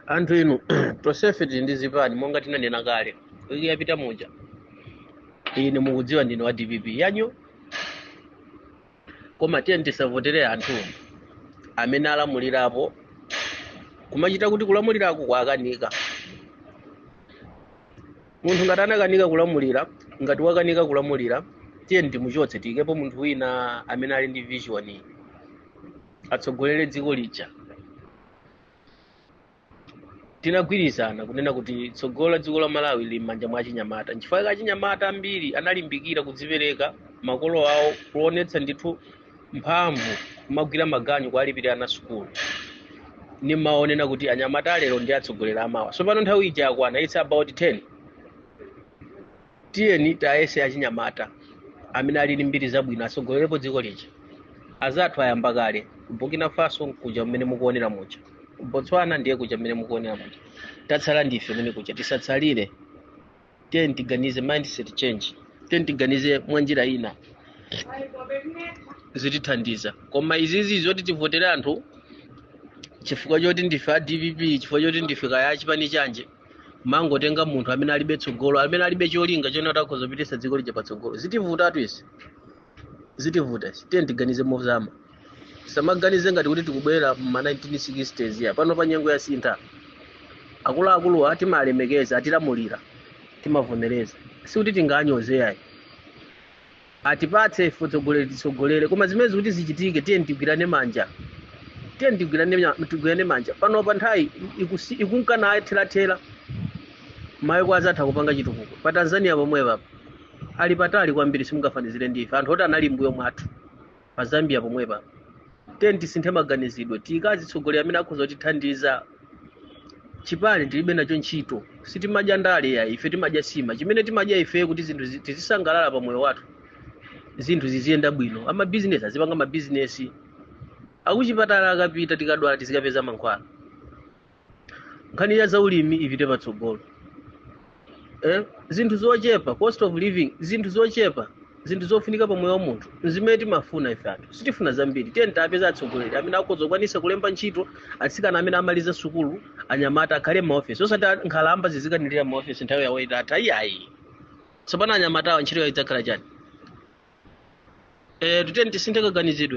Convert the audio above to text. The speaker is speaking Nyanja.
anthu inu tonsefe tili ndi zipani monga tinanena kale wiki yapita muja ine mukudziwa ndine wa dpp yanyu koma tiyeni tisavotere anthu amene alamulirapo kumachita kuti kulamulirako kwakanika munthu ngati anakanika kulamulira ngati wakanika kulamulira tiyeni timuchotse tiyikepo munthu wina amene ali ndi vision atsogolere dziko lija tinagwirizana kunena kuti tsogolo la dziko la malawi lili m'manja mwa achinyamata nchifukwa chake achinyamata ambiri analimbikira kudzipereka makolo awo kuonetsa ndithu mphamvu kumagwira maganyu kuwalipirira ana sukulu nimaonena kuti anyamata alero ndi atsogoleri amawa tsopano nthawi ija yakwana its about 10 tiyeni tayese achinyamata amene ali ndi mbiri zabwino atsogolerepo dziko lija azathu ayamba kale burkina faso nkuja mmene mukuonera muja botswana ndiye kuja mmene mukuonera muja tatsala ndife kumene kuja tisatsalire tiyeni tiganize mindset change tiyeni tiganize mwa njira ina zitithandiza koma izizi zoti tivotere anthu chifukwa choti ndife a dpp chifukwa choti ndife kaya achipani chanje mangotenga munthu amene alibe tsogolo amene alibe cholinga choti atha khoza kupititsa dziko lija patsogolo zitivutatu izi zitivuta izi tiyeni tiganize mozama tisamaganize ngati kuti tikubwera m'ma 1960s ya panopa nyengo yasintha akuluakuluwa timalemekeza atilamulira timavomereza sikuti tinganyoze ayi atipatse ife utsogoleri titsogolere koma zimenezi kuti zichitike tiyeni tigwirane manja tiyeni tigwirane nya- tigwirane manja panopa nthawi ikusi- ikunka naye therathera mayiko azathu akupanga chitukuko pa tanzania pomwepapa ali patali kwambiri simungafanizire ndi ife anthu oti anali m'mbuyo mwathu pa zambia pomwepa tiyeni tisinthe maganizidwe tiyike azitsogoleri amene akhoza kutithandiza chipani tilibe nacho ntchito sitimadya ndale ayi ife timadya sima chimene timadya ife kuti zinthu zi- tizisangalala pa moyo wathu zinthu ziziyenda bwino amabizinesi azipanga mabizinesi akuchipatala akapita tikadwala tizikapeza mankhwala nkhani ya zaulimi ipite patsogolo eh? zinthu zochepa cost of living zinthu zochepa zinthu zofunika pa moyo wa munthu nzimene timafuna ife anthu sitifuna zambiri tiyeni tipeze atsogoleri amene akhoza kukwanisa kulemba ntchito atsikana amene amaliza sukulu anyamata akhale m'maofesi osati a- nkhalamba zizikanirira m'maofesi nthawi yawo itatha iyayi tsopano anyamatawa ntchito yawo idzakhala chani eh, tiyeni tisinthe kaganizidwe